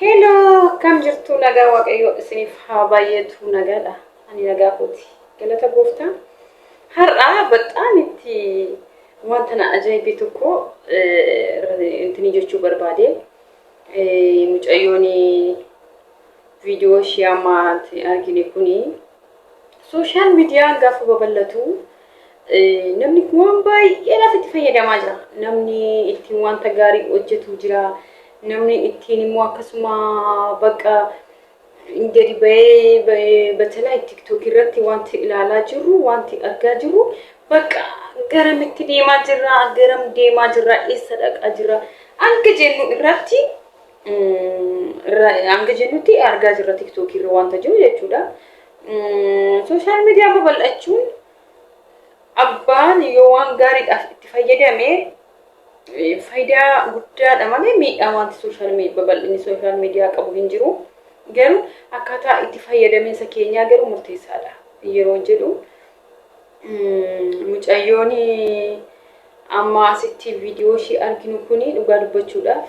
Hello, akkam jirtu nagaa waaqayyoo isiniif haa baay'eetu nagaadha. Ani nagaa kooti. Galata gooftaa. Har'a baxaan itti wanta na ajaa'ibe tokko intini jechuu barbaade. Mucayyoon viidiyoo ishee ammaatti argine kuni sooshaal miidiyaan gaafa babal'atu Namni kun waan baay'eedhaaf itti fayyadamaa jira. Namni ittiin wanta gaarii hojjetu jira. Namni ittiin immoo akkasuma bakka gadi bahee batalaa tiktookii irratti wanti ilaalaa jirru wanti argaa jirru bakka garamitti deemaa jirra garam deemaa jirra eessa dhaqaa jirra hanga jennu irratti hanga jennutti argaa jirra tiktookii irra wanta jiru jechuudha. Sooshaal miidiyaa babal'achuun abbaan yoo waan gaariidhaaf itti fayyadame faayidaa guddaadha malee miidhaa wanti sooshaal babal'inni sooshaal miidiyaa qabu hin jiru. Garuu akkaataa itti fayyadaminsa keenyaa garuu murteessaadha yeroo jedhu mucayyoon amma asitti viidiyoo ishii arginu kun dhugaa dubbachuudhaaf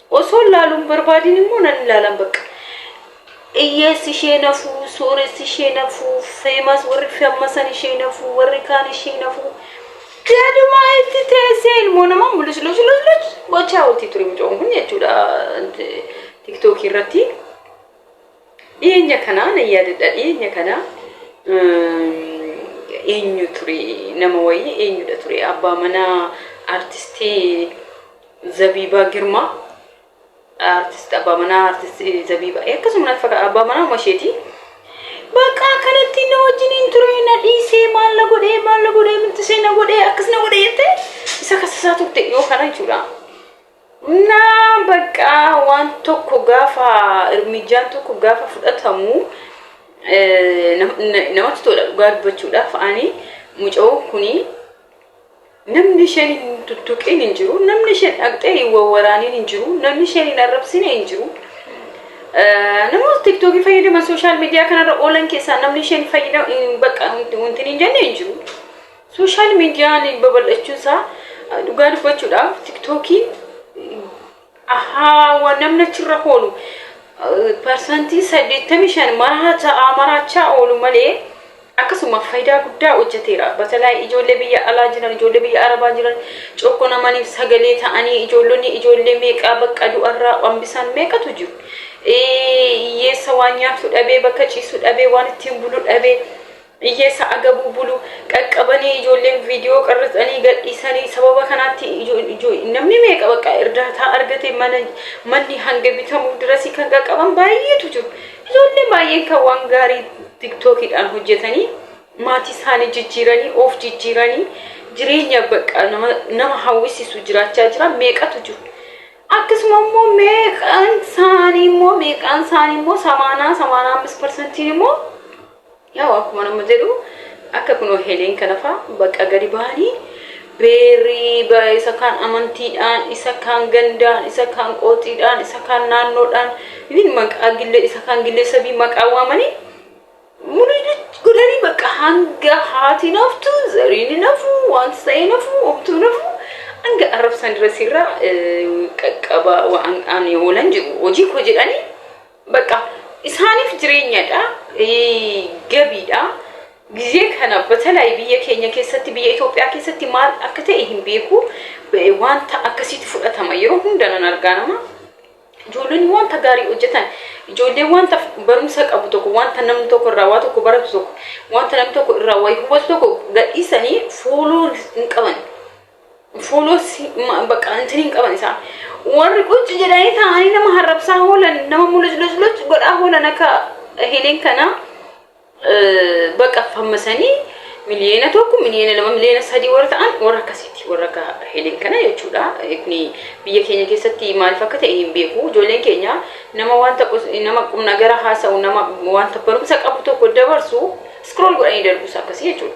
Osoon laaluu hin barbaadin immoo nan ilaalan bakka. Iyyeessi ishee nafuu, sooressi ishee nafuu, feemas warri feemmasan ishee nafuu, warri kaan ishee nafuu. Gadumaa itti teessee ilmoo namaa mul'is luus luus luus gochaa ooltii ture mucoon kun jechuudha tiktookii irratti. Dhiyeenya kana nan yaadadha dhiyeenya kana eenyu ture nama wayii eenyudha ture abbaa manaa artistii Zabiibaa Girmaa artist abbaa manaa artist Zabiibaa akkasuma natti fakkaata abbaa manaa uma isheeti. Bakka akkanatti na wajjin hin ture na dhiisee maal na godhee maal na godhee minxisee na godhee akkas na godhee jettee isa kasasaa turte yoo kana jechuudha. Na bakka waan tokko gaafa irmijjaan tokko gaafa fudhatamu eh, nam- na- namatti tola dhugaa dubbachuudhaaf ani mucoo kuni Namni isheen hin tuttuqiin hin jiru, namni isheen dhaqxee hin wawwaraaniin hin jiru, namni isheen hin arrabsine hin jiru. Namoota tiktookii fayyadaman sooshaal miidiyaa kanarra oolan keessaa namni isheen fayyadamu hin bakka wanti hin jenne hin jiru. Sooshaal miidiyaan babal'achuun isaa dhugaa dubbachuudhaaf tiktookiin Ahaa waan namni achirra hoolu parsantii saddeettamii shan maraachaa maraachaa oolu malee akkasuma faayidaa guddaa hojjeteera. Batalaa ijoollee biyya alaa jiran, ijoollee biyya arabaa jiran cokko namaniif sagalee ta'anii ijoollonni ijoollee meeqaa bakka du'arraa hambisaan meeqatu jiru. Hiyyeessa waan nyaatu dhabee bakka ciisu dhabee waan ittiin bulu dhabee Iyyee sa'a gabuu bulu qaqqabanii ijoolleen viidiyoo qarratsanii gadhiisanii sababa kanaatti namni meeqa bakka irdaataa argate mana manni hanga bitamuuf dirasii kan qaqqaban baay'eetu jiru. Ijoolleen baay'een kan waan gaarii tiktookiidhaan hojjetanii maatii isaanii jijjiiranii of jijjiiranii jireenya bakka nama, nama hawwisiisu jiraachaa jiran meeqatu jiru. Akkasuma immoo meeqaan isaanii immoo meeqaan isaanii immoo samaanaa samaanaa ammas parsantiin immoo Yaa'u akkuma nama jedhu akka kunoo heleen kanafaa bakka gadi ba'anii beerrii ba- isa kaan amantiidhaan, isa kaan gandaan, isa kaan qooxiidhaan, isa kaan naannoodhaan, even maqaa gille- isa kaan gilleessabii maqaa waamanii mulidichi godhanii bakka hanga haati naftu, zariin nafu, wanti ta'ee nafu, homtuu nafu hanga arrabsan irra sirraa eh, qaqqabaa waan ani oolan jiru hojii koo jedhanii Bakka isaaniif jireenyadha, gabiidha. Gizee kana batalaayi biyya keenya keessatti, biyya Itoophiyaa keessatti maal akka ta'e hin beeku. Wanta akkasiitti fudhatama. Yeroo hunda nan argaa nama. Ijoollonni wanta gaarii hojjetan, ijoollee wanta barumsa qabu tokko, wanta namni tokko irraa waa tokko baratu tokko, wanta namni tokko irraa waa hubatu tokko gadhiisanii fooloo hin qaban. fooloosi bakka antini hin qaban isaa warri qucci jedhanii taa'anii nama harrabsaa hoolan nama mulujlujluj godhaa hoolan akka helen kana bakka fammasanii miliyoona tokko miliyoona lama miliyoona sadii warra ta'an warra akkasiiti warra akka helen kana jechuudha kuni biyya keenya keessatti maaliif akka ta'e hin beeku ijoolleen keenya nama wanta nama qumna gara haasa'u nama wanta barumsa qabu tokko dabarsu scroll godhanii darbuus akkasii jechuudha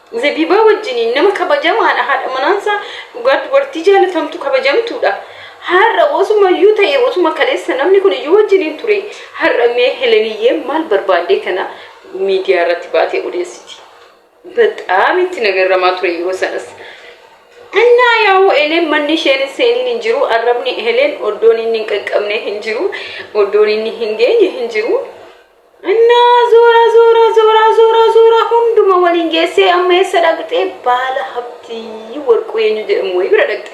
Zabibaa wajjiniin nama kabajamaadha haadha manaansaa dhugaa dubartii jaalatamtu kabajamtuudha. Har'a osuma iyyuu ta'e osuma kaleessa namni kun iyyuu wajjiniin ture har'a mee Heleniyyee maal barbaaddee kana miidiyaa irratti baatee odeessiti. Baxaam itti nagarramaa ture yeroo sanas. Innaa yaa'u Heleen manni isheen hin seeniin hin jiru arrabni Heleen oddoon inni hin qaqqabne hin jiru oddoon inni hin geenye hin jiru. Innaa zuura zuura zuura zuura zuura hunduma waliin geessee amma eessa dhaqxee baala habtii warquu eenyu jedhamu wayii bira dhaqxe.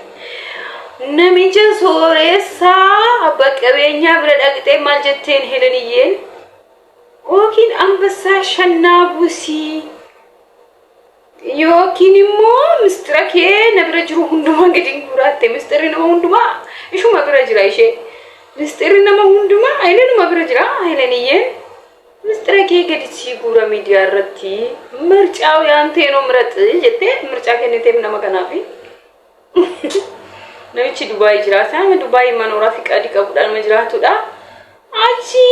Namicha sooressaa abba qabeenyaa bira dhaqxee maal jetteen heleniyyeen yookiin ambassaa shannaa busii Yookiin immoo mistira kee na bira jiru hundumaa gadi hin guuraatte mistirri nama hundumaa ishuma bira jira ishee. Mistirri nama hundumaa Hayilenuma bira jira Hayileniyyeen mistira kee gadi sii guura miidiyaa irratti mircaaw yaantee noo miraxi jettee mircaa kenniteef nama kanaafi. Namichi Dubaayii jiraata. Nama Dubaayii manooraa fi qadii qabudha. Nama jiraatudha. Achi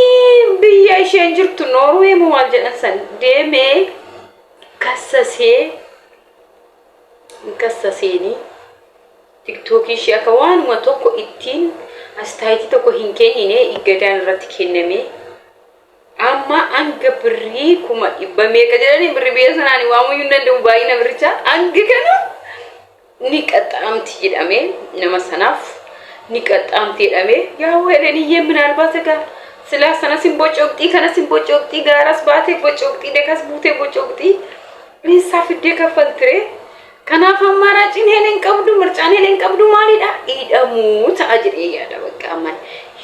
biyya isheen jirtu Noorwee moo maal jedhan san deemee kassasee hin kassaseenii tiktookii ishee akka waanuma tokko ittiin astaayitii tokko hin kennine iggadaan irratti kennamee Amma hanga birrii kuma dhibba meeqa jedhanii birri biyya sanaa ni waamuu hin danda'u baay'ina birrichaa hanga kana ni qaxxaamti jedhamee nama sanaaf ni qaxxaamti jedhamee yaa weeleniyyee minaalbaat egaa silaa sanas hin bocoqxii kanas hin bocoqxii gaaras baatee bocoqxii dekas buutee bocoqxii dhiissaa fiddee kaffaltire Kanaaf ammaaraaciin Helen qabdu mircaan Helen qabdu maalidha? Hidhamuu ta'a jedhee yaada bakka amman.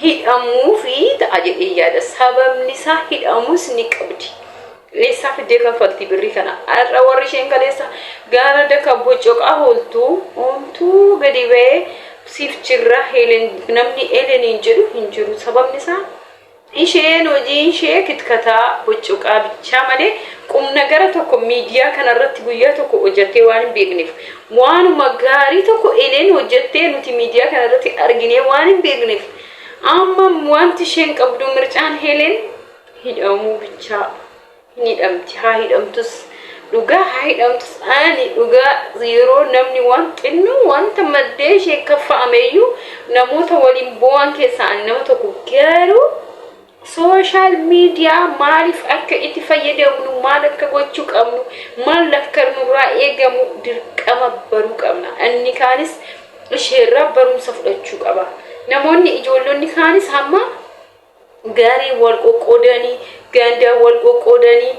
Hidhamuu fi ta'a jedhee yaada. Sababni isaa hidhamus ni qabdi. Eessaa fiddee kaffaltii birrii kana? Har'a warri isheen kaleessa gaara daka bocoqaa hooltuu hoomtuu gadi ba'ee siif jirra Helen namni Heleniin jedhu hin jiru. Sababni isaa Isheen hojiinshee kitkataa, huccuqaa bichaa malee qumnagara tokko miidiyaa kanarratti guyyaa tokko hojjattee waan hin beekneef, waanuma gaarii tokko Eleen hojjattee nuti miidiyaa kanarratti arginee waan hin beekneef, amma wanti isheen qabdu mircaan Heleen hidhamuu bichaa. hin hidhamti haa hidhamtus dhugaa haa hidhamtus ani dhugaa yeroo namni waan xinnoo wanta maddee ishee kaffa'ameyyuu namoota waliin boo'an keessaa ani nama tokko garuu sooshaal miidiyaa maaliif akka itti fayyadamnu maal akka gochuu qabnu maal akka nurraa eegamu dirqama baruu qabna inni kaanis isheerraa barumsa fudhachuu qaba namoonni ijoollonni kaanis hamma Garee wal qoqqoodanii, ganda wal qoqqoodanii,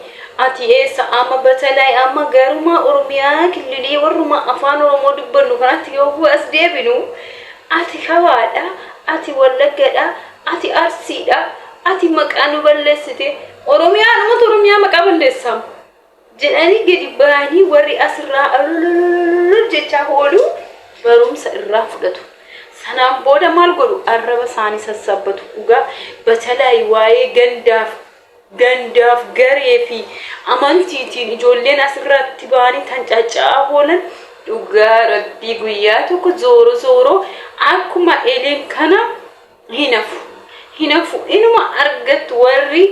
ati eessa amma batalaay amma garumaa Oromiyaa killilii warrumaa afaan Oromoo dubbannu kanatti yogguu as deebinu, ati kawaadha, ati wallaggadha, ati arsiidha, ati maqaa nu balleessite, Oromiyaadhumatu Oromiyaa maqaa balleessaam. jedhanii gadi ba'anii warri asirraa alololololol jechaa oolu barumsa irraa fudhatu. Sanaan booda maal godhu arraba isaanii sassabbatu dhugaa batalaayi waa'ee gandaaf gandaaf garee fi amantiitiin ijoolleen asirratti ba'anii tan cacca'aa oolan dhugaa rabbii guyyaa tokko zooro zooro akkuma eleen kana hin hafu hin hafu inuma argattu warri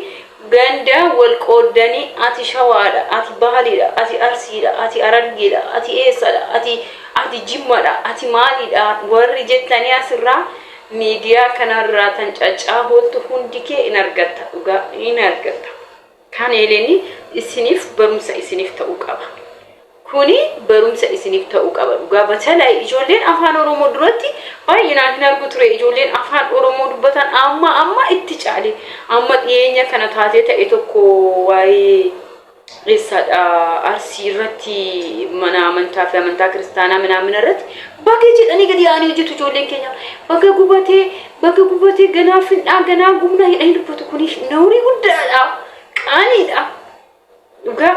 gandaa wal qooddanii ati shawaadha ati baaliidha ati arsiidha ati arargeedha ati eessadha ati ati jimmadha ati maaliidha warri jettanii asirraa miidiyaa kanarraa tan caccaaboottu hundi kee in argatta dhugaa in argatta Kan Eleni isinif barumsa isinif ta'u qaba. Kuni barumsa isinif ta'u qaba dhugaa batalai ijoolleen afaan oromoo duratti baay'inaan hin argu ture ijoolleen afaan oromoo dubbatan amma amma itti caale amma dhiyeenya kana taatee ta'e tokko waa'ee eessaadha arsii irratti mana amantaa fi amantaa kiristaanaa minaamina irratti baga jedhanii gadi yaa'anii hojjetu ijoolleen keenya baga gubatee Baga gubatee ganaa findhaa ganaa gubna hidha hin dubbatu kuni nawrii guddaadha qaaniidha dhugaa.